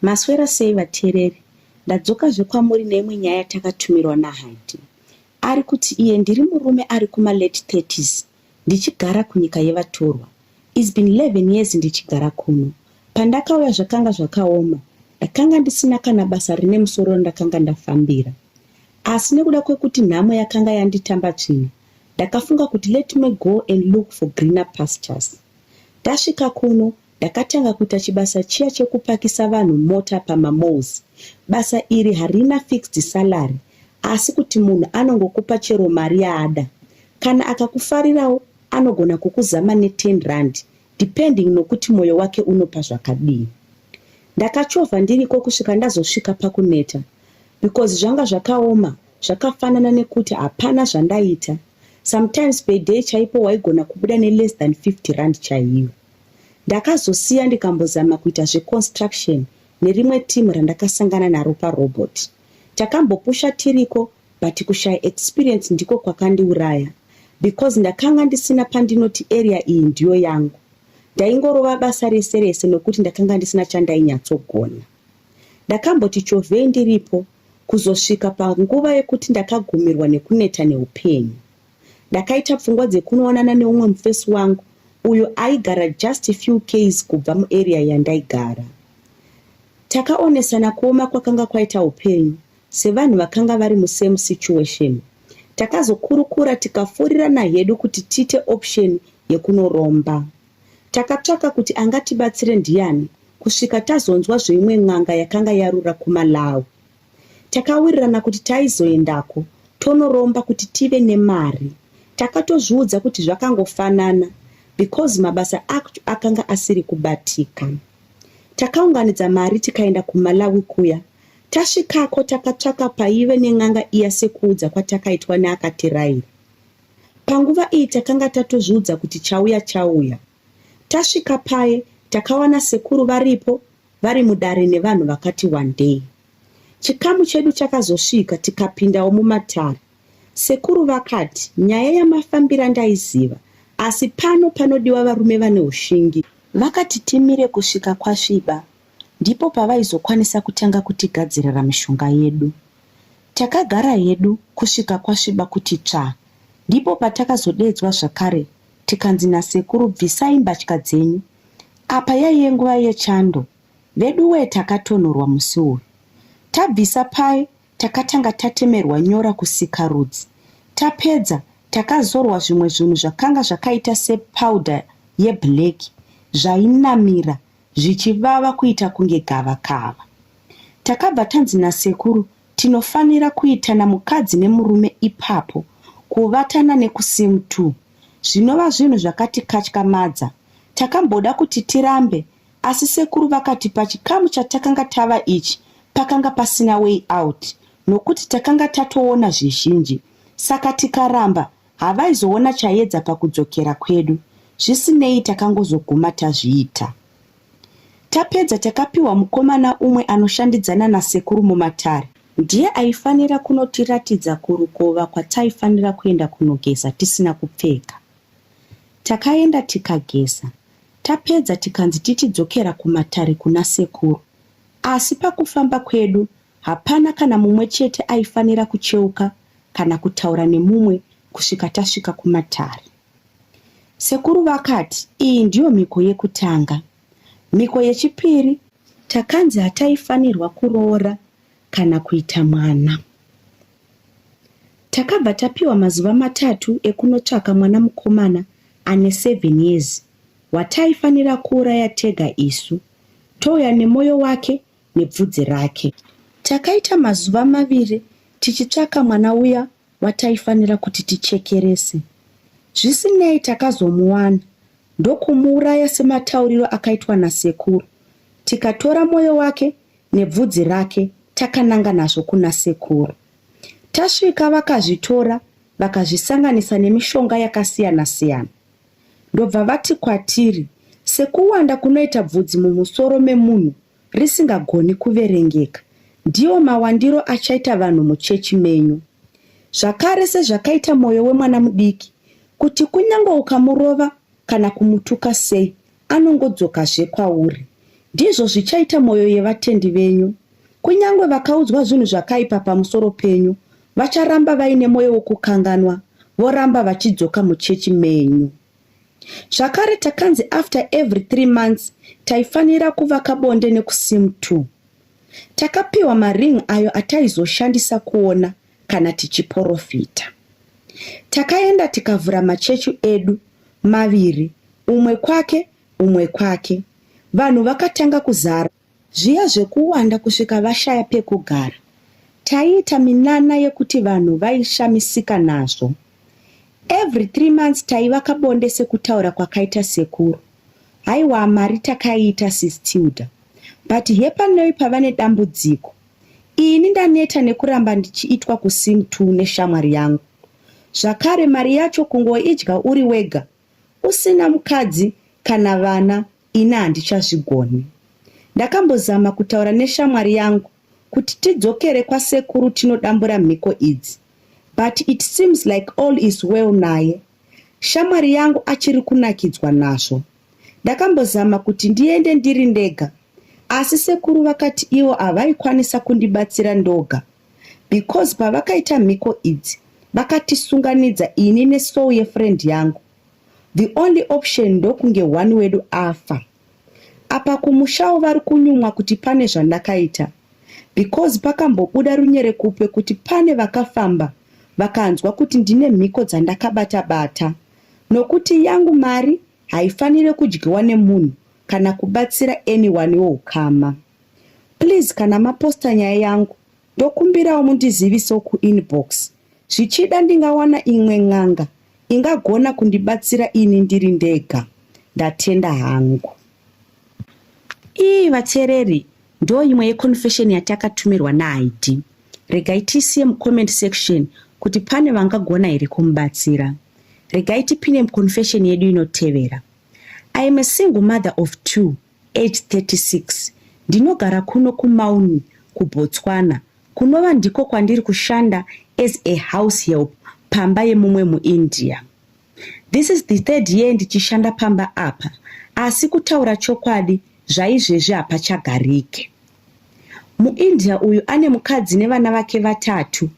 Maswera sei vateereri? Ndadzokazve kwamuri neimwe nyaya yatakatumirwa naHanti. Ari kuti iye ndiri murume ari kuma late 30s ndichigara kunyika yevatorwa. It's been 11 years ndichigara kuno. Pandakauya zvakanga zvakaoma, ndakanga ndisina kana basa rine musoro randakanga ndafambira. Asi nekuda kwekuti nhamo yakanga yanditamba tsvina, ndakafunga kuti let me go and look for greener pastures. Ndasvika kuno, Ndakatanga kuita chibasa chiya chekupakisa vanhu mota pamamalls. Basa iri harina fixed salary asi kuti munhu anongokupa chero mari yaada. Kana akakufarirawo anogona kukuzama ne 10 rand depending nokuti moyo wake unopa zvakadii. Ndakachovha ndiriko kusvika ndazosvika pakuneta because zvanga zvakaoma zvakafanana nekuti hapana zvandaita. Sometimes per day chaipo waigona kubuda ne less than 50 rand chaiyo. Ndakazosiya ndikambozama kuita zveconstruction nerimwe team randakasangana naro parobot. Takambopusha tiriko but kushaya experience ndiko kwakandiuraya because ndakanga ndisina pandinoti area iyi ndiyo yangu. Ndaingorova basa rese rese nokuti ndakanga ndisina chandainyatso-gona. Ndakamboti chovhei ndiripo kuzosvika panguva yekuti ndakagumirwa nekuneta neupenyu. Ndakaita pfungwa dzekunoonana neumwe mufesi wangu uyo aigara just a few ks kubva muarea yandaigara. Takaonesana kuoma kwakanga kwaita upenyu sevanhu vakanga vari musame situation. Takazokurukura tikafurirana hedu kuti tiite option yekunoromba. Takatsvaka kuti angatibatsire ndiyani kusvika tazonzwa zveimwe n'anga yakanga yarura kumalawi. Takawirirana kuti taizoendako tonoromba kuti tive nemari. Takatozviudza kuti zvakangofanana because mabasa acho akanga asiri kubatika. Takaunganidza mari tikaenda kuMalawi kuya. Tasvikako takatsvaka paive nen'anga iya sekuudza kwatakaitwa neakatiraira. Panguva iyi takanga tatozviudza kuti chauya chauya. Tasvika paye takawana sekuru varipo vari mudare nevanhu vakati wandei. Chikamu chedu chakazosvika tikapindawo mumatare. Sekuru vakati nyaya yamafambira ndaiziva asi pano panodiwa varume vane ushingi. Vakati timire kusvika kwasviba ndipo pavaizokwanisa kutanga kutigadzirira mishonga yedu. Takagara hedu kusvika kwasviba kuti tsvaa ndipo patakazodeedzwa zvakare tikanzi nasekuru bvisai mbatya dzenyu. Apa yaiye nguva yechando veduwee takatonhorwa musi uyu. Tabvisa paye takatanga tatemerwa nyora kusikarudzi. Tapedza takazorwa zvimwe zvinhu zvakanga zvakaita sepowder yeblack zvainamira zvichivava kuita kunge gavakava. Takabva tanzi nasekuru tinofanira kuitana mukadzi nemurume ipapo kuvatana nekusim two zvinova zvinhu zvakatikatyamadza takamboda kuti tirambe asi sekuru vakati pachikamu chatakanga tava ichi pakanga pasina way out nokuti takanga tatoona zvizhinji saka tikaramba Havaizoona chayedza pakudzokera kwedu, zvisinei takangozoguma tazviita. Tapedza takapiwa mukomana umwe anoshandidzana nasekuru mumatare. Ndiye aifanira kunotiratidza kurukova kwataifanira kuenda kunogeza tisina kupfeka. Takaenda tikageza, tapedza tikanzi tichidzokera kumatare kuna sekuru. Asi pakufamba kwedu Hapana kana mumwe chete aifanira kucheuka kana kutaura nemumwe kusvika tasvika kumatare. Sekuru vakati iyi ndiyo mhiko yekutanga. Mhiko yechipiri takanzi hataifanirwa kuroora kana kuita mwana. Takabva tapiwa mazuva matatu ekunotsvaka mwana mukomana ane 7 years wataifanira kuuraya tega isu touya nemwoyo wake nebvudzi rake. Takaita mazuva maviri tichitsvaka mwana uya wataifanira kuti tichekerese. Zvisinei takazomuwana ndokumuuraya sematauriro akaitwa nasekuru. Tikatora moyo wake nebvudzi rake takananga nazvo kuna sekuru. Tasvika vakazvitora vakazvisanganisa nemishonga yakasiyana-siyana. ndobva vati kwatiri, Sekuwanda kunoita bvudzi mumusoro memunhu risingagoni kuverengeka, ndiwo mawandiro achaita vanhu muchechi menyu. Zvakare, sezvakaita mwoyo wemwana mudiki, kuti kunyange ukamurova kana kumutuka sei, anongodzokazve kwauri. Ndizvo zvichaita mwoyo yevatendi venyu. Kunyange vakaudzwa zvinhu zvakaipa pamusoro penyu, vacharamba vaine mwoyo wokukanganwa, voramba vachidzoka muchechi menyu. Zvakare takanzi after every three months taifanira kuvaka bonde nekusim two. Takapiwa maring ayo ataizoshandisa kuona kana tichiporofita. Takaenda tikavhura machechu edu maviri, umwe kwake, umwe kwake. Vanhu vakatanga kuzara zviya zvekuwanda kusvika vashaya pekugara. Taiita minana yekuti vanhu vaishamisika nazvo. Every three months taivaka bonde sekutaura kwakaita sekuru. Haiwa mari takaiita sis Tilda. But hepanoi pavane dambudziko Ini ndaneta nekuramba ndichiitwa kusim two neshamwari yangu. Zvakare mari yacho kungoidya uri wega usina mukadzi kana vana ini handichazvigoni. Ndakambozama kutaura neshamwari yangu kuti tidzokere kwasekuru tinodambura mhiko idzi but it seems like all is well naye. Shamwari yangu achiri kunakidzwa nazvo. Ndakambozama kuti ndiende ndiri ndega. asi sekuru vakati ivo havaikwanisa kundibatsira ndoga because pavakaita mhiko idzi vakatisunganidza ini nesoul yefriend yangu the only option ndokunge one wedu afa apa kumushawo vari kunyumwa kuti pane zvandakaita because pakambobuda runyere kupe kuti pane vakafamba vakanzwa kuti ndine mhiko dzandakabata bata nokuti yangu mari haifanire kudyiwa nemunhu kana kubatsira anyone wehukama please kana maposta nyaya yangu ndokumbirawo mundizivisewo kuinbox zvichida ndingawana imwe n'anga ingagona kundibatsira ini ndiri ndega ndatenda hangu ii vateereri ndo imwe yeconfession yatakatummirwa nahaidi regai tisiye mucomment section kuti pane vangagona here kumubatsira Regai tipine muconfession yedu inotevera. I am a single mother of two, age 36. Ndinogara kuno kuMauni, kuBotswana, kunova ndiko kwandiri kushanda as a house help pamba yemumwe muIndia. This is the third year ndichishanda pamba apa, asi kutaura chokwadi zvaizvezvi hapachagarike. MuIndia uyu ane mukadzi nevana vake vatatu.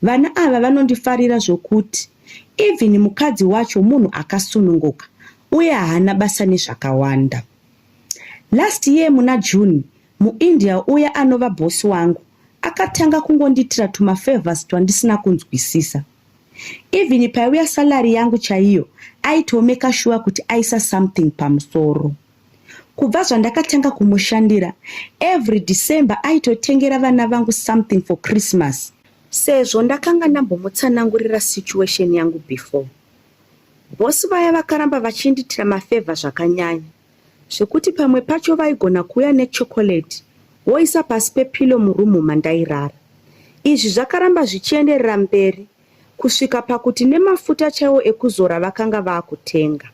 Vana ava vanondifarira zvokuti. Even mukadzi wacho munhu akasununguka uye haana basa nezvakawanda. Last year muna June, muIndia uya anova boss wangu akatanga kungondiitira tumafavors twandisina kunzwisisa. Even paiuya salary yangu chaiyo, aitomaker sure kuti aisa something pamusoro. kubva zvandakatanga kumushandira every december aitotengera vana vangu something for christmas sezvo ndakanga ndambomutsanangurira situation yangu before bosi vaya vakaramba vachindiitira mafevha zvakanyanya zvekuti pamwe pacho vaigona kuuya nechokoreti woisa pasi pepilo murumu mandairara izvi zvakaramba zvichienderera mberi kusvika pakuti nemafuta chaiwo ekuzora vakanga vakutenga.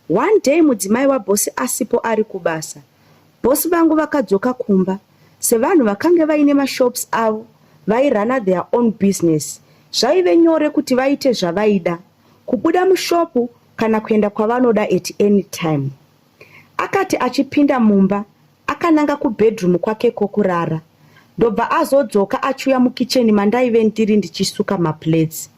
One day mudzimai wabhosi asipo ari kubasa, bhosi vangu vakadzoka kumba sevanhu vakange vaine mashops avo vairana their own business zvaive nyore kuti vaite zvavaida kubuda mushopu kana kuenda kwavanoda at any time akati achipinda mumba Akananga kubedroom kwake kokurara ndobva azodzoka achiuya mukicheni mandaive ndiri ndichisuka maplates.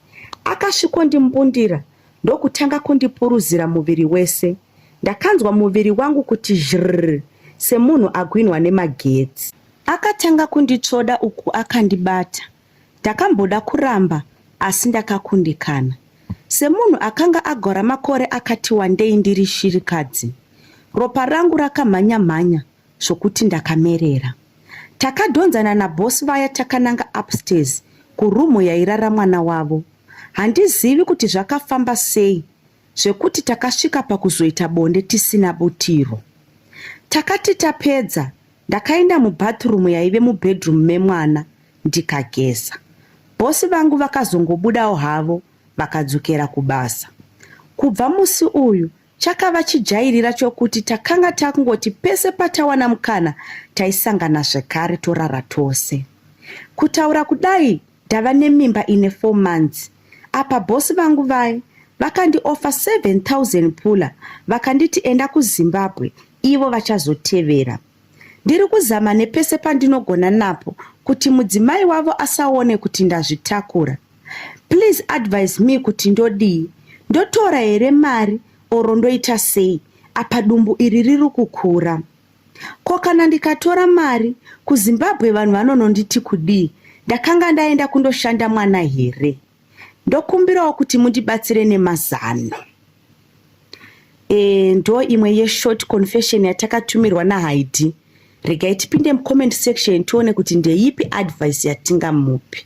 Akasvikondimbundira ndokutanga kundipuruzira muviri wese. Ndakanzwa muviri wangu kuti zhrrr semunhu agwinhwa nemagetsi. Akatanga kunditsvoda uku akandibata. Ndakamboda kuramba asi ndakakundikana. Semunhu akanga agora makore akati wandei ndiri shirikadzi, ropa rangu rakamhanya-mhanya zvokuti ndakamerera. Takadhonzana naboss vaya takananga upstairs kuroom yairara mwana wavo. Handizivi kuti zvakafamba sei zvekuti takasvika pakuzoita bonde tisina butiro. Takati tapedza Ndakaenda mubathroom yaive mubedroom memwana ndikageza. Boss vangu vakazongobudawo havo vakadzokera kubasa. Kubva musi uyu chakava chijairira chokuti takanga takungoti pese patawana mukana taisangana zvekare torara tose. Kutaura kudai ndava nemimba ine 4 months apa boss vangu vaye vakandiofa 7000 pula vakanditi enda kuzimbabwe ivo vachazotevera ndiri kuzama nepese pandinogona napo kuti mudzimai wavo asaone kuti ndazvitakura please advise me kuti ndodii ndotora here mari oro ndoita sei apa dumbu iri riri kukura Ko kana ndikatora mari kuZimbabwe vanhu vanononditi kudii? Ndakanga ndaenda kundoshanda mwana here? Ndokumbirawo kuti mundibatsire nemazano. E, ndo imwe yeshort confession yatakatumirwa naHaidi. Regai tipinde mucomment section tione kuti ndeipi advice yatingamupi.